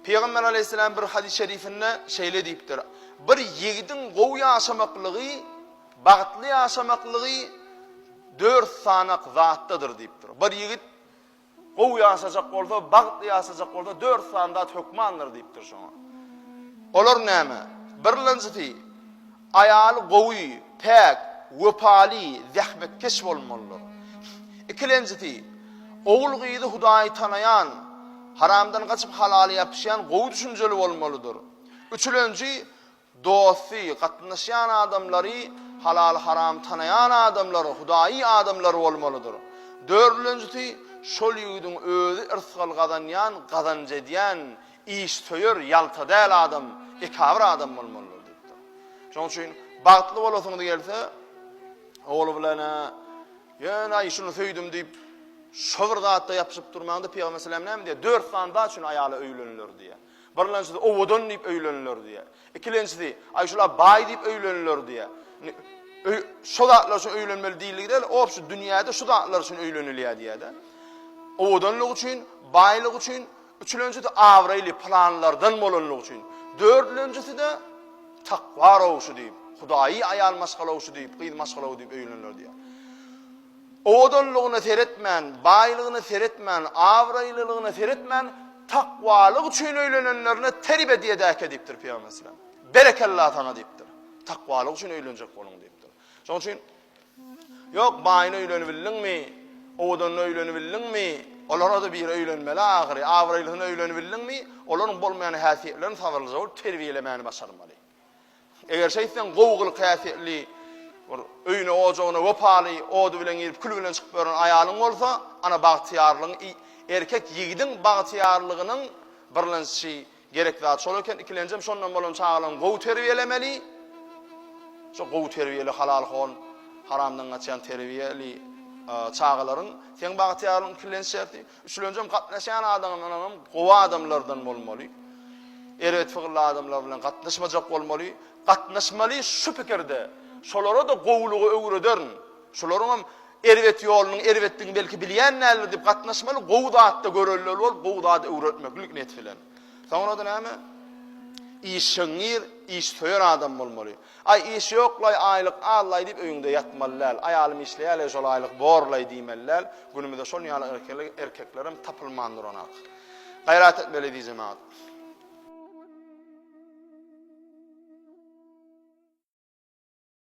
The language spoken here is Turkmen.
Pygamber aleýhissalam bir hadys şerifinde şeýle diýipdir, Bir ýigidiň gowy ýaşamaklygy, bagtly ýaşamaklygy dört sanak zatdadyr diýipdir. Bir ýigit gowy ýaşajak bolsa, bagtly ýaşajak bolsa dört san zat hökmandyr diýipdir şoňa. Olar näme? Birlenjisi Aýaly gowy, päk, wepaly, zähmetkeş bolmalydyr. Ikilenjisi, ogul-gyzy Hudaýy tanaýan, haramdan gaçyp halala ýapyşýan gowy düşünjeli bolmalydyr. Üçülenji, dosty, gatnaşýan adamlary, halal-haramy tanaýan adamlar, hudaýy adamlar bolmalydyr. Dördülenjisi, şol ýigidiň özi yrsgal gazanýan, gazanç edýän, Işsöýer, ýalta däl adam, ekabir adam bolmalydyr diýipdir. Şonuň üçin bagtly bolasyn gelse, ogly bilen-ä ýöne şuny söýdüm diýip, şu bir zatda ýapyşyp durmaňda Pygamber sallallahu aleyhi ve sellem näme diýýär? Dört sany zat üçin aýala öýleniler diýýär. Birlençisi owadan diýip öýleniler diýýär. Ikilençisi aý şula baý diýip öýleniler diýýär. Şu zatlar üçin öýlenmeli diýildi däl, o şu dünýäde şu zatlar üçin öýlenilýär diýýär-de. Owadanlyk üçin, baýlyk üçin, Üçülenjisi abraýly planlardan bolanlygy üçin, dördülenjisi-de takwa rowşy diýip, hudaýy aýal maşgalawşy diýip, gyz maşgalawy diýip öýlenler diýýär. Owadanlygyna seretmän, baýlygyna seretmän, abraýlylygyna seretmän, takwalyk üçin öýlenenlerine terib edýädäke diýipdir Pygamberimiz sallallahu aleyhi ve sellem. Berekella saňa diýipdir. Takwalyk üçin öýlenjek boluň diýipdir. Şonuň üçin Ýok, baýyna öýlenibildiňmi? Owadanyna öýlenibildiňmi? Olara-da biri öýlenmeli ahyry. Abraýlysyna öýlenibildiňmi? Olaryň bolmaýan häsiýetlerini sabyrlyja bolup terbiýelemäni başarmaly. Eger şeýtseň, gowy gylyk-häsiýetli, bir öýüne-ojagyna wepaly, ody bilen girip, küli bilen çykyp ýören aýalyň bolsa, ana, bagtyýarlygyň, erkek ýigidiň bagtyýarlygynyň birlençi Gerek zat şol eken, ikilenjem şondan bolan çagalaň gowy terbiýelemeli, şo gowy terbiýeli halal hon, haramdan gaçýan terbiýeli çagalaryň seň bagtyýarlygyň ikilenç şerti, üçlenjem gatnaşýan adamlaryňam gowy adamlardan bolmaly. Erbet figilli adamlar bilen gatnaşmajak bolmaly, gatnaşmaly şu pikirde, şolara-da gowulygy öwrederin, şolaryňam Erbet ýolunyň erbetdigini belki bilýän däldir diýip gatnaşmaly, gowy zatda görelde bol, gowy zady öwretmeklik niýet bilen. Soňra-da näme? Işeňňir, işsöýer adam bolmaly. Aý iş ýoklaý, aýlyk az-laý diýip öýüňde ýatmaly däl. Aýalym işleýärleý şol aýlyk borlaý diýmeli däl. Günümizde şol ýaly erkekler erkeklerem tapylman duran ak. Gaýrat etmeli eziz jemagat.